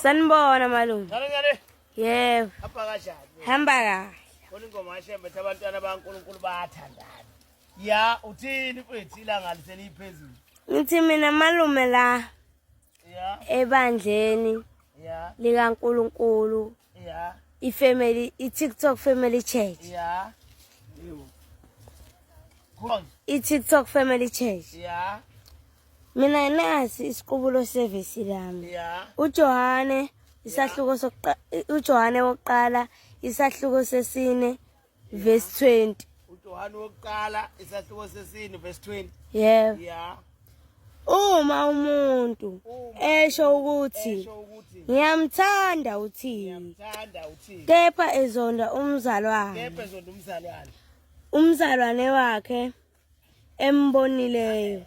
Sanibona malume. Ngale ngale. Yebo. Hamba kanjani? Hamba kahle. Khona ingoma yashembe ethi abantwana baNkulunkulu bayathandana. Ya uthini mfethu ilanga liseliphezulu. Ngithi mina malume la. Ya. Ebandleni. Ya. LikaNkulunkulu. Yeah. I-family, i-TikTok family church. Yeah. I-TikTok family church. Yeah. Mina nasi isiqubulo service lami. Yeah. UJohane isahluko sokuqala uJohane wokuqala isahluko sesine verse 20 uJohane wokuqala isahluko sesini verse 20 yeah yeah uma umuntu esho ukuthi ngiyamthanda uthini kepha ezonda umzalwane umzalwane wakhe embonileyo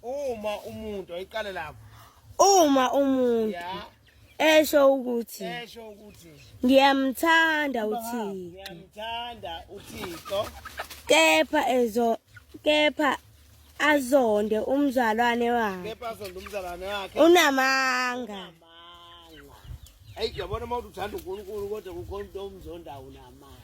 uma umuntu ayiqale lapho uma umuntu yeah. esho ukuthi esho ukuthi ngiyamthanda uThixo ngiyamthanda uThixo kepha ezo kepha azonde umzalwane wakhe kepha azonde umzalwane wakhe unamanga ayi yabona uma uthanda uNkulunkulu kodwa kukhona umuntu omzondayo unamanga